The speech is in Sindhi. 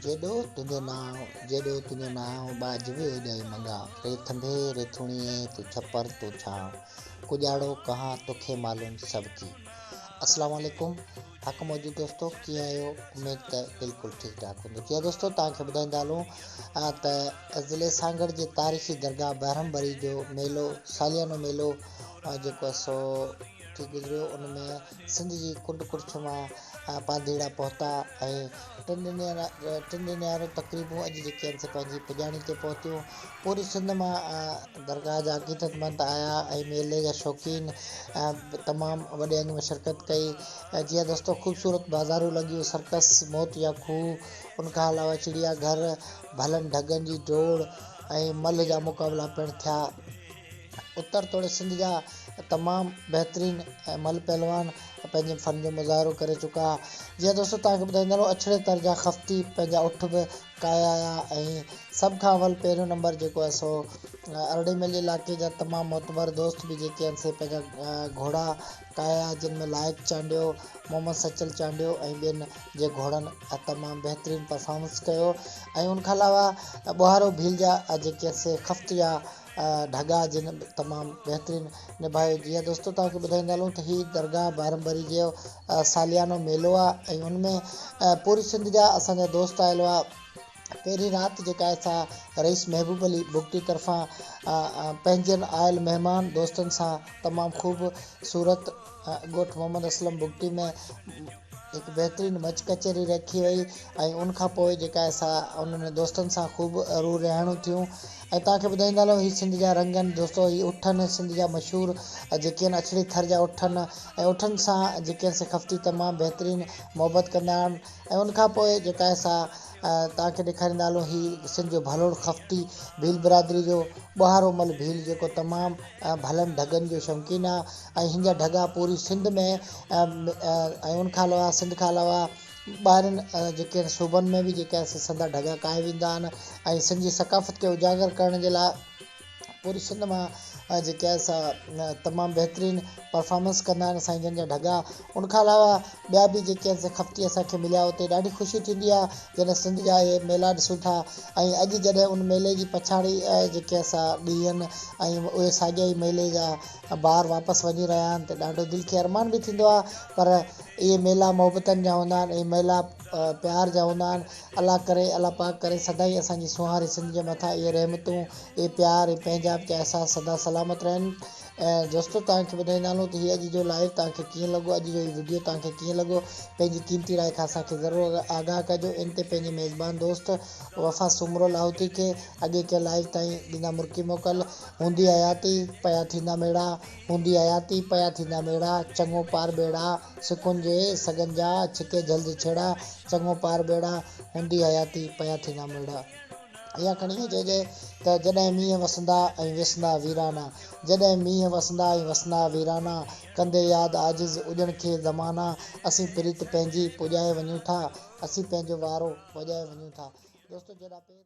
جيڏو تنهنجو نانء، جيڏو تنهنجو نانء، ٻاجهه به اوڏيائي منگان، ري ٿنڀي، ري ٿوڻيي، تون ڇپر، تون ڇانء، ڪڄاڙو ڪهان، توکي معلوم سڀ ڪي. السلام عليڪم حق موجود دوستو ڪيئن آهيو اميد ته بلڪل ٺيڪ ٺاڪ هوندو جي ها دوستو توهان کي ٻڌائيندا هلون ته ضلعي سانگهڙ جي تاريخي درگاهه بهرم بري جو ميلو ساليانو ميلو جيڪو سو ٿي گذريو ان ۾ سنڌ جي ڪنڊ ڪڙڇ مان پانڌيئڙا پهتا ۽ ٽن ڏينهن واريون تقريبون اڄ جيڪي آهن سي پنهنجي پڄاڻي تي پهتيون پوري سنڌ مان درگاهه جا عقيدت مند آيا ۽ ميلي جا شوقين تمام وڏي انگ ۾ شرڪت ڪئي جي ها دوستو خوبصورت بازارون لڳيون سرڪس موت يا کوهه ان کان علاوه چڙيا گهر ڀلن ڍڳن جي ڊوڙ ۽ ملهه جا مقابلا پڻ ٿيا اتر توڙي سنڌ جا تمام بهترين ۽ مھل پهلوان پنهنجي فن جو مظاهرو ڪري چڪا ها جيئن دوستو توهان کي ٻڌائيندا هلون اڇڙي تر جا خفتي پنهنجا اٺ به ڪاهيا آيا ۽ سڀ کان اول پهريون نمبر جيڪو آهي سو ارڙي ميل جي علائقي جا تمام معتبر دوست به جيڪي آهن سي پنهنجا گهوڙا ڪاهيا جن ۾ لائق چانڊيو محمد سچل چانڊيو ۽ ٻين جي گهوڙن تمام بهترين پرفارمنس ڪيو ۽ ان کان علاوه ٻوهارو ڀيل جا جيڪي آهن سي خفت جا ڍڳا جن تمام بهترين نڀايو جي ها دوستو توهان کي ٻڌائيندا هلون ته هي درگاهه بارمبري جو ساليانو ميلو آ ۽ ان ۾ پوري سنڌ جا اسان جا دوست آيل هئا پهرين رات جيڪا آهي سا رئيس محبوب علي بگٽي طرفان پنهنجن آيل مهمان دوستن سان تمام خوب صورت ڳوٺ محمد اسلم بگٽي ۾ هڪ بهترين مچ ڪچهري رکي وئي ۽ ان کان پوء جيڪا اسان انهن دوستن سان خوب رو رهاڻيون ٿيون ۽ توهان کي ٻڌائيندا هلون هي سنڌ جا رنگ آهن دوستو هي اٺ آهن سنڌ جا مشهور جيڪي آهن اڇڙي ٿر جا اٺ آهن ۽ اٺن سان جيڪي آهن سخفتي تمام بهترين محبت ڪندا آهن ۽ ان کان پوء جيڪا اسان توهان کي ڏيکاريندا هلون هي سنڌ جو ڀلوڙ خفتي ڀيل برادري جو ٻهارو مل ڀيل جيڪو تمام ڀلن ڍڳن جو شوقين آهي ۽ هن جا ڍڳا پوري سنڌ ۾ ۽ ان کان علاوه سنڌ کان علاوه ٻاهرين جيڪي آهن صوبن ۾ به جيڪي آهن سي سنڌا ڍڳا ڪاهي ويندا آهن ۽ سنڌ جي ثقافت کي اجاگر ڪرڻ جي لاء پوري سنڌ مان جيڪي آهن سا تمام بهترين پرفارمنس ڪندا آهن سائين جن جا ڍڳا ان کان علاوه ٻيا به جيڪي آهن سي خفتي اسان کي مليا اتي ڏاڍي خوشي ٿيندي آهي جڏهن سنڌ جا اهي ميلا ڏسون ٿا ۽ اڄ جڏهن ان ميلي جي پڇاڙي جيڪي آهي سا ڏينهن ۽ اهي ساڳيا ئي ميلي جا ٻار واپس وڃي رهيا آهن ته ڏاڍو دل کي ارمان به ٿيندو آهي پر اهي ميلا محبتن جا هوندا آهن اهي ميلا پيار جا هوندا آهن الله ڪري الله پاڪ ڪري سدائين اسان جي سونهاري سنڌ جي مٿان اهي رحمتون اهي پيار اهي پنهنجائپ جا احساس سدا سلامت رهن ۽ دوستو توهان کي ٻڌائيندا هلون ته هي اڄ جو لائيو توهان کي ڪيئن لڳو اڄ جو هي وڊيو توهان کي ڪيئن لڳو پنهنجي قيمتي راء کان اسان کي ضرور آگاهه ڪجو ان تي پنهنجي ميزبان دوست وفا سومرو لاهوتي کي اڳي ڪيل لائيو تائين ڏيندا مرڪي موڪل هوندي حياتي، پيا ٿيندا ميڙا، هوندي حياتي، پيا ٿيندا ميڙا، چڱو پار ٻيڙا، سڪن جي سڳن جا، ڇڪي جهل جي ڇيڙا، چڱو پار ٻيڙا، هوندي حياتي، پيا ٿيندا ميڙا. اها ڪھاڻي ائين چئجي ته جڏهن مينهن وسندا ۽ وسندا ويرانا، جڏهن مينهن وسندا ۽ وسندا ويرانا، ڪندي ياد عاجز اڄڻ کي زمانا، اسين پريت پنهنجي پڄائي وڃون ٿا، اسين پنهنجو وارو وڄائي وڃون ٿا. دوستو جيڏا پير.